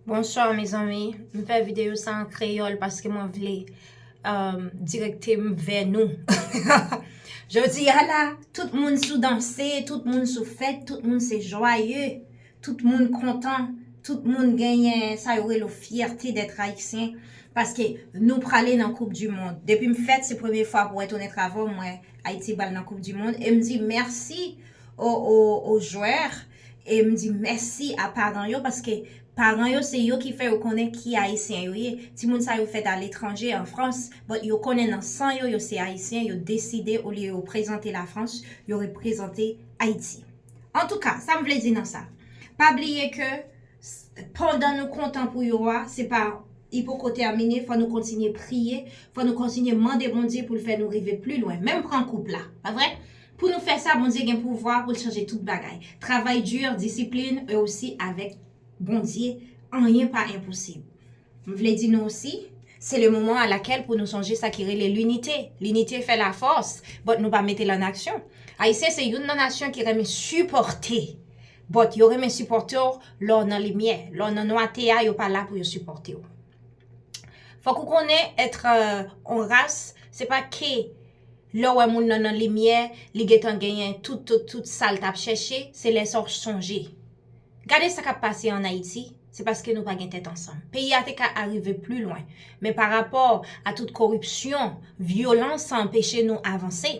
Bonsoir mezanmi, m fè videyo sa an kreyòl paske mwen vle direkte m vè nou. Jodi a la, tout moun sou danse, tout moun sou fèt, tout moun se jwaye, tout moun kontan, tout moun genyen sa yo rele fyète dèt ayisyen paske nou prale nan koup di mond. Depi m fèt se premye fwa pou wè tounen travay m wè Ayiti pral nan koup di mond e m di mèsi o jwè E m di mèsi a paran yo paske paran yo se yo ki fè yo konnen ki Ayisyen yo ye. Timoun sa yo fèt aletranje, an Frans, but yo konnen nan san yo, yo se Ayisyen, yo deside olye yo reprezante Lafrans, yo reprezante Ayiti. Antouka, sa m vle di nan sa, pa bliye ke pandan nou kontan pou yo a, se pa li poko tèmine, fò nou kontinye priye, fò nou kontinye mande Bondye pou l fè nou rive pli lwen. Menm pran koup la, pa vre? Pou nou fè sa Bondye gen pouvwa poul chanje tout bagay. Travay dur, disiplin e osi avèk Bondye anyen pa enposib. M vle di nou osi. Se le moman a lakèl pou nou sonje sa ki rele linite. Linite fè la fòs but nou pa metel an aksyon. Ayisyen se youn nan nasyon ki renmen sipòte but yo renmen sipòte w lè w nan limyè. Lè w nan nwate a yo pa la pou yo sipòte w. Fòk ou konnen etre on ras se pa ke. Lè w wè moun nan nan limyè, li gentan genyen tout sa l t ap chèche, se lè sa w sonje. Gade sa k ap pase an Ayiti, se paske nou pa gen tèt ansanm. Peyi a te ka arive pli lwen, men pa rapò a tout koripsyon, vyolans sa anpeche nou avanse.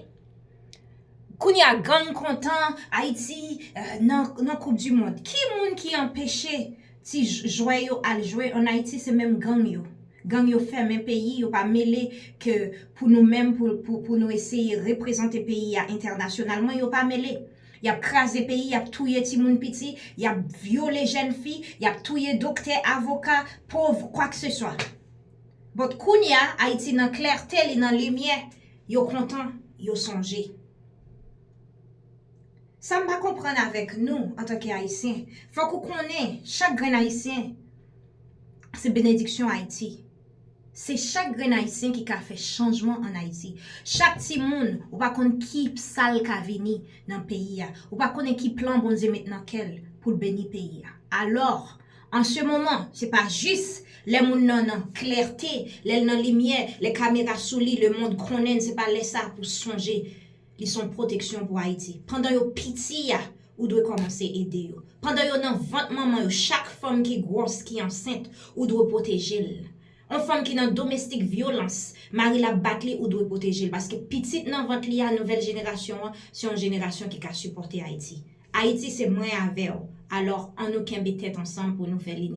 Kounye a gang kontan, Ayiti nan koup di mond. Ki moun ki anpeche? Ti jwè yo al jwe an ayiti se menm gang yo gang yo fèmen peyi yo pa mele ke pou nou menm pou nou eseye reprezante peyi a entènasyonalman yo pa mele yap kraze peyi yap touye ti moun piti yap vyole jèn fi yap touye doktè avoka pov kwak se swa but kounya ayiti nan klète li nan limyè yo kontan yo sonje. Sa m pa konprann avèk nou antanke Ayisyen, fòk ou konnen chak grenn Ayisyen se benediksyon Ayiti. Se chak grenn Ayisyen ki ka fè chanjman an Ayiti. Chak timoun, ou pa konn ki sa l ka vini nan peyi a. Ou pa konnen ki plan Bondye met nan kè l pou l beni peyi a. Alò, an se moman, se pa jis lè moun nan nan klète, lè l nan limyè, lè kamera sou li, lemonn konnen l, se pa lè sa pou sonje. Li son proteksyon pou Ayiti. Pandan yo piti a ou dwe kòmanse ede yo. Pandan yo nan vant manman yo chak fanm ki gwòs ki ansent ou dwe pwoteje l. On fanm ki nan domestik vyolans mari l ap bat li ou dwe pwoteje l paske pitit nan vant li a nouvèl jenerasyon an se yon jenerasyon ki ka sipòte Ayiti. Ayiti se mwen avè w alò an nou kenbe tèt ansanm pou nou fè l.